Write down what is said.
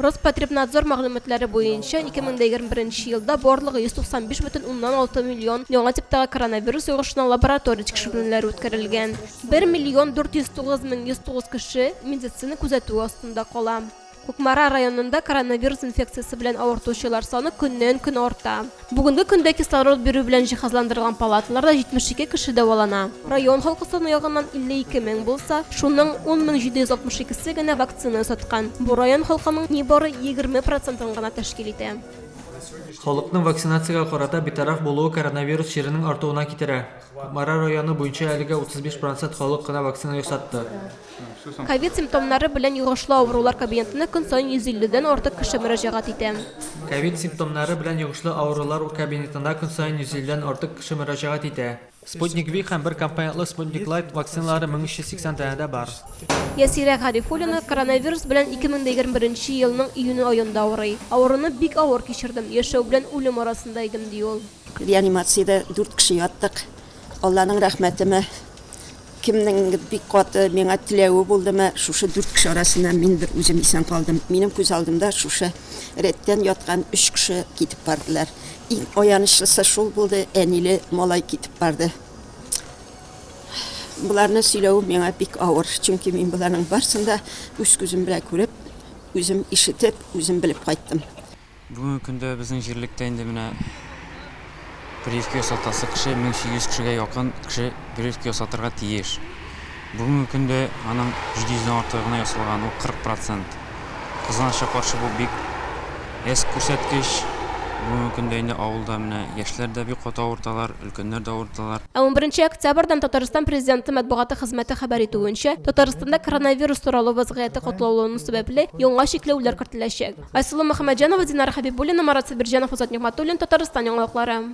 Роспотребнадзор мәгълүматлары буенча, 2021 елда барлыгы 195,6 миллион яңа типтагы коронавирус йогышына лаборатория тикшеренүләре үткәрелгән. 1 миллион 409 мең 109 кеше медицина күзәтүе астында кала. Кукмара районында коронавирус инфекциясе белән авыртучылар саны көннән-көн арта. Бүгенге көндә кислород бирү белән җиһазландырылган палаталарда 72 кеше дәвалана. Район халкы саны ягыннан 52 мең булса, шуның 10 мең 762-се генә вакцина ясаткан. Бу район халкының нибары 20 процентын гына тәшкил итә. Халыкның вакцинациягә карата битараф булуы коронавирус чиренең артуына китерә. Кукмара районы буенча әлегә 35 процент халык кына вакцина ясатты. Ковид симптомнары белән йогышлы авырулар кабинетына көн саен 150 дән артык кеше мөрәҗәгать итә. Ковид симптомнары белән йогышлы авырулар кабинетына көн саен 150 дән артык кеше мөрәҗәгать итә. Спутник Ви һәм бер компонентлы Спутник Лайт вакциналары 1380 данәдә бар. Ясирә Гарифуллина коронавирус белән 2021 нче елның июнь аенда авырый. Авыруны бик авыр кичердем, яшәү белән үлем арасында идем, ди ул. Реанимациядә дүрт кеше яттык. Алланың рәхмәтеме. Кемнеңдер бик каты миңа теләве булдымы, шушы дүрт кеше арасыннан мин бер үзем исән калдым. Минем күз алдымда шушы рәттән яткан өч кеше китеп бардылар. Иң аянычлысы шул булды, әниле малай китеп барды. Боларны сөйләвем миңа бик авыр, чөнки мин боларның барсын да үз күзем белән күреп, үзем ишетеп, үзем белеп кайттым. Бүгенге көндә безнең җирлектә инде менә прививка ясатасы кеше 1800 кешегә якын кеше прививка ясатырга тиеш. Бүгенге көндә аның 700 дән артыгы гына ясалган, ул 40 процент. Кызганычка каршы, бу бик әз күрсәткеч. Бүгенге көндә инде авылда менә яшьләр дә бик каты авырталар, өлкәннәр дә авырталар. Ә унберенче октябрьдән Татарстан Президенты матбугаты хезмәте хәбәр итүенчә, Татарстанда коронавирус таралу вәзгыяте катлаулану сәбәпле, яңа чикләүләр кертеләчәк. Айсылу Мөхәммәтҗанова, Динара Хәбибуллина, Марат Сабирҗанов, Азат Нигъмәтуллин, Татарстан яңалыклары.